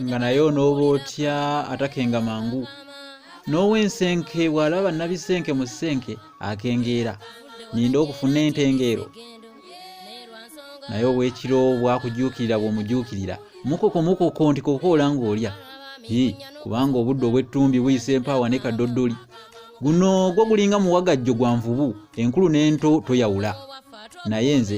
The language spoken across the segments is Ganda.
nga naye onooba otya atakenga mangu n'ow'ensenke bw'alaba nabisenke mu senke akengeera ninda okufuna entengeero naye obwekiro bwakujuukirira bw'omujuukirira mukoko mukoko nti kokoola ng'olya i kubanga obudde obw'ettumbi buyisa empaawa ne kadoddoli guno gwo gulinga muwagajjo gwa nvubu enkulu n'ento toyawula naye nze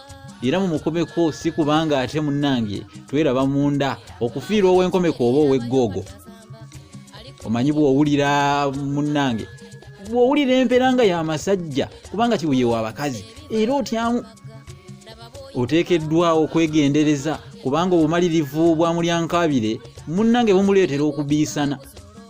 era mumukomeko si kubanga ate munnange tweraba munda okufiirwa ow'enkomeko oba ow'eggoogo omanyi bw'owulira munnange bw'owulira empeera nga y'amasajja kubanga kibuye wa abakazi era otyamu oteekeddwa okwegendereza kubanga obumalirivu bwa mulyankabire munnange bumuleetera okubiisana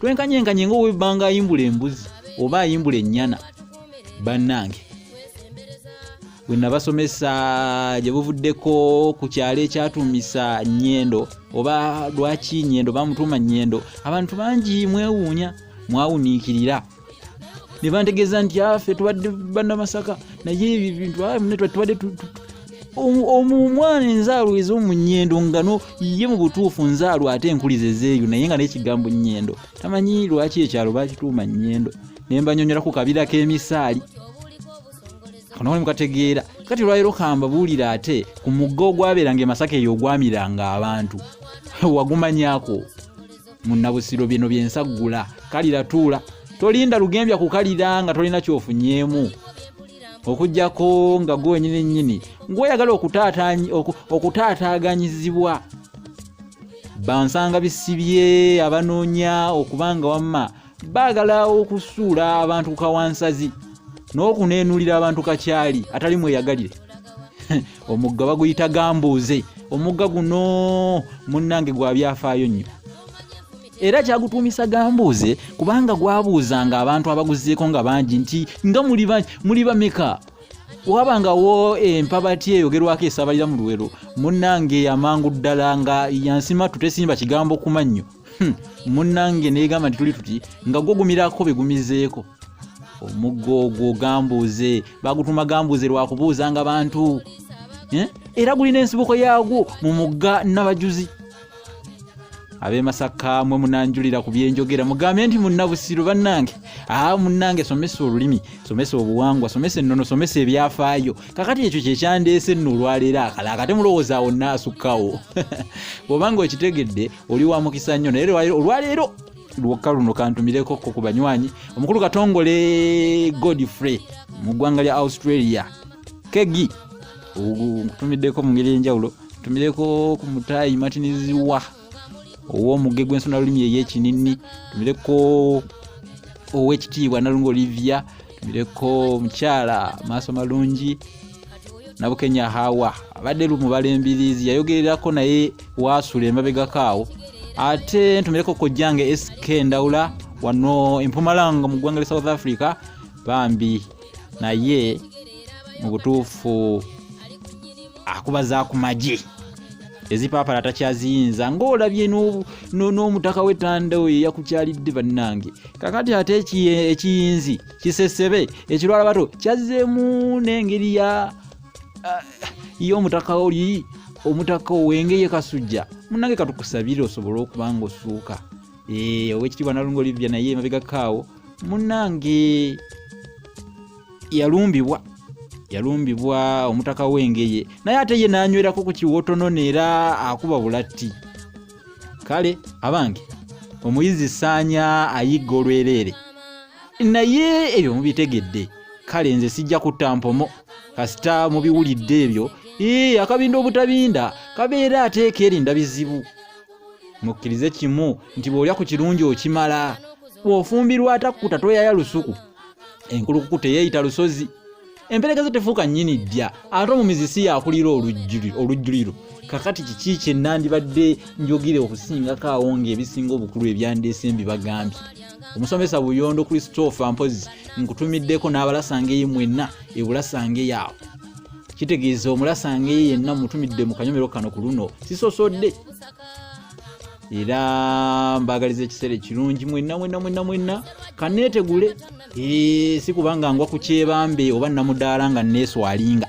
twenkanyenkanye nga owebanga ayimbula embuzi oba ayimbula ennyana bannange bwe nabasomesa gye buvuddeko ku kyalo ekyatuumisa nyendo oba lwaki nyendo bamutuuma nyendo abantu bangi mwewuunya mwawuniikirira ne bantegeeza nti afe ah, tubadde banna masaka naye ebyo ebintu ah, tubadde omwana enzaalo ezomunyendo ngano ye mu butuufu nzaalo ate enkuliza ezeeyo naye nga nekigambo nyendo tamanyi lwaki ekyalo bakituuma nyendo naye mbanyonyolako kabira k'emisaali kano kali mukategeera kati olwaliro kambabuulira ate ku mugga ogwabeeranga emasaka eyo ogwamiranga abantu wagumanyako munnabusiro bino byensaggula kalira tuula tolinda lugembya kukalira nga tolina kyofunyeemu okujjako nga gwe wenyini nyini ngweyagala okutaataaganyizibwa bansanga bisibye abanoonya okubanga wamma baagala okusuula abantu kukawansazi n'okuneenulira abantu kakyali atali mweyagalire omugga baguyita gambuuze omugga guno munnange gwa byafaayo nnyo era kyagutuumisa gambuuze kubanga gwabuuzanga abantu abaguzeeko nga bangi nti nga muli bameka wabangawo empabati eyogerwako esabalira mu luwero munnange amangu ddala nga yansimatu tesimba kigambo kumannyo Hmm, munnange negamba nti tuli tuti nga gwogumirako begumizeeko omuggo ogwo gambuuze bagutuma gambuuze lwakubuuzanga bantu eh? era gulina ensibuko yaagwo mu mugga nabajuzi abemasaka mwe munanjulira ku byenjogera mugambye nti munabusiru bannange aa munnange somesa olulimi somesa obuwangwa somesa ennono somesa ebyafaayo kakati ekyo kyekyandeese nno olwaleero akala akate mulowooza awo naasukkawo bwobanga okitegedde oli wa mukisa nnyo naye olwaleero lwokka luno kantumireko ko ku banywanyi omukulu katongole godfrey mu ggwanga lya australia kegi nkutumiddeko mu ngeri enjawulo tumireko ku mutaayi matiniziwa ow'omuge gw'ensonalulimi ey'ekinini tumireko ow'ekitiibwa nalunga olivia mireko mukyala maaso malungi nabukenya hawa abadde lumubala embirizi yayogererako naye waasula emabegako awo ate ntumireko kojjange sk ndawula wano empumalanga mu ggwanga lya south africa bambi naye mu butuufu akuba za ku magye ezipaapala takyaziyinza ng'olabye n'omutaka w'etanda oyo eyakukyalidde bannange kakati ate ekiyinzi kisesebe ekirwala bato kyazzeemu n'engeri ya ah, y'omutaka oli omutaka owengeye kasujja munange katukusabire osobole okuba nga osuuka eh, owekitiibwa nalunga olivya naye emabegakaawo munange yalumbibwa yalumbibwa omutaka w'engeye naye ate ye n'anywerako ku kiwotonona era akuba bulatti kale abange omuyizi saanya ayigga olwereere naye ebyo mubitegedde kale nze sijja kutta mpomo kasita mubiwulidde ebyo ee akabinda obutabinda kabeera ateeka erinda bizibu mukkirize kimu nti bw'olya ku kirungi okimala bw'ofumbirwa atakkuta toyaya lusuku enkulukuku teyeeyita lusozi empereka zo tefuuka nnyini ddya ate omumizi si yakulira olujjuliro kakati kiki kye nandibadde njogere okusingako awo ng'ebisinga obukulu ebyandeese mbibagambye omusomesa buyondo christopher mpozi nkutumiddeko n'abalasangeye mwenna ebulasangeyo awo kitegeeza omulasangeyo yenna mutumidde mu kanyomero kano ku luno sisosodde era mbagaliza ekiseera ekirungi mwenna mwenna mwenna mwenna kaneetegule si kubanga ngwa ku kyebambe oba namudaala nga neeswalinga